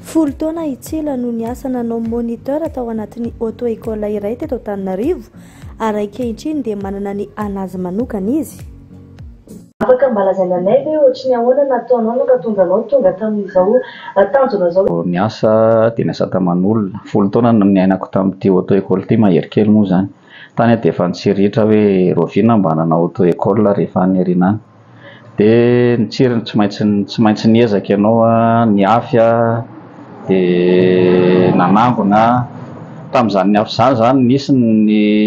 Folo taona i Tsila no niasa nanao moniteur tao anatin'ny auto école iray teto Antananarivo ary ankehitriny dia manana ny an'azy manokana izy. Afaka mba lazaina anay ve ohatry ny ahoana nataonao nampatonga anao tonga tamin'izao tanjona izao? Vao niasa dia niasa taman'olona. Folo taona no niainako tamin'ity auto école ity, mahery kely moa izany. Tany aho dia efa nitsiritra hoe rahoviana aho mba hanana auto école rehefa any aoriana any. Dia nitsiry ny tsy maintsy tsy maintsy niezaka ianao nihafy dia nanangona tamin'izany nihafy izany izany nisy ny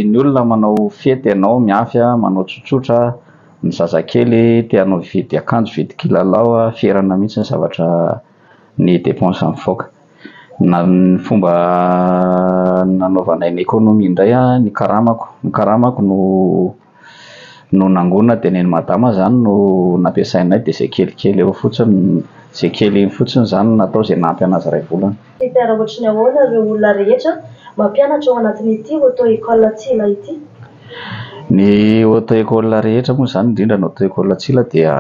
ny olona manao fety ianao mihafy manao tsotsotra ny zazakely te hanao hividy akanjo hividy kilalao ferana mihitsy ny zavatra ny dépense mivoaka na ny fomba nanaovanay ny économie indray ny karamako ny karamako no no nangona dia neny madama zany no nampiasainay dia zay kelikely eo fotsiny zay kely iny fotsiny zany natao zay nampy anazy ray volana. Teacher ohatry ny ahoana ireo olona rehetra mampianatra ao anatin'ity auto école Tsila ity? Ny auto école rehetra moa izany indrindra ny auto école Tsila dia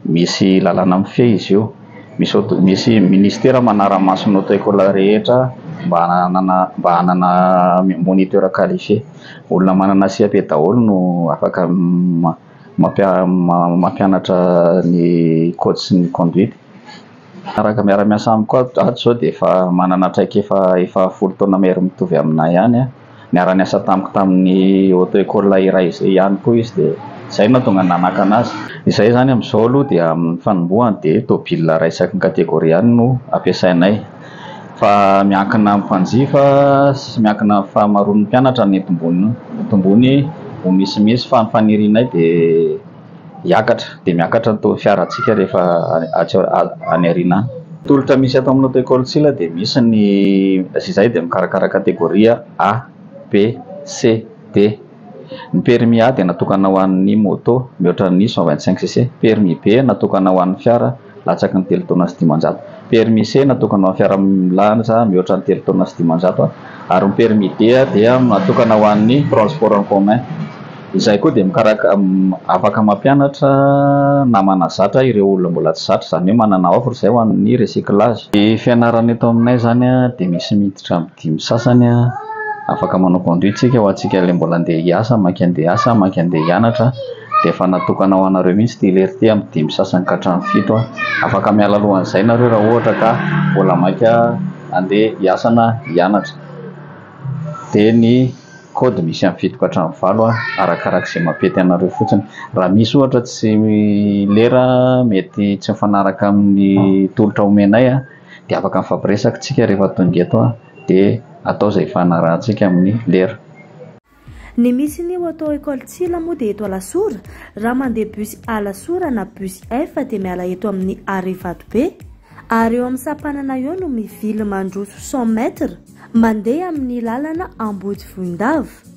Misy lalana mifehy izy io. Misy aut misy ministera manara-maso ny auto école rehetra mba hananana mba hanana moniteur qualifié. Olona manana CAP daholo no afaka ma- mampia- ma- mampianatra ny code sy ny conduite. Araka miara-miasa amiko ato ato zao dia efa manana traikefa efa folo taona mahery mitovy aminay ihany aho. Niara-niasa tamiko tamin'ny auto école iray izay ihany koa izy dia izay no nahatonga ny nanakana azy. Izay izany amin'izao aloha dia amin'ny fanombohany dia tôbila iray isaky ny catégorie ihany no ampiasainay fa miankina amin'ny mpanjifa sy miankina amin'ny fahamaroan'ny mpianatra ny tombony. Ny tombony ho misimisy fa ny fanirianay dia. hiakatra dia miakatra ny taux fiarantsika rehefa atsy any aoriana any. Tolotra misy ato amin'ny Auto-Ecole Sila dia misy ny sy izahay dia mikarakara kategoria A, B, C, D. Ny permis A dia natokana ho an'ny moto mihoatra ny cent vingt-cinq cc, permis B natokana ho an'ny fiara, latsaky ny telo taona sy dimanjato. Permis C natokana ho an'ny fiara milaza mihoatra ny telo taona sy dimanjato ary ny permis D dia natokana ho an'ny transport en commun. Izay koa dia mikaraka afaka mampianatra na manazatra ireo olona mbola tsy zatra, izany hoe manana offre izay ho an'ny recyclage. Ny fianarana eto aminay izany dia misy miditra Dimy sasany afaka manao conduit tsika ho antsika ilay mbola andeha hiasa, maika andeha hiasa, maika andeha hianatra dia efa natokana ho anareo mihitsy ity lery ity amin'ny dimy sasany ka hatramin'ny fito afaka miala alohan'izay nareo raha ohatra ka mbola maika andeha hiasa na hianatra dia ny code misy amin'ny fito ka hatramin'ny valo arakaraka izay mampety anareo fotsiny raha misy ohatra tsy lera mety tsy mifanaraka amin'ny tolotra omenay Dia afaka mifampiresaka tsika rehefa tonga eto a! Dia atao izay ifanarahantsika amin'ny lera. Ny misy ny ho atao Ecole Tsila moa dia eto Alasora, raha mandeha bus Alasora na bus F dia miala eto amin'ny arret Vatobe, ary eo amin'ny sampanana eo no mivily mandroso cent mètres mandeha amin'ny lalana Ambodivohindava.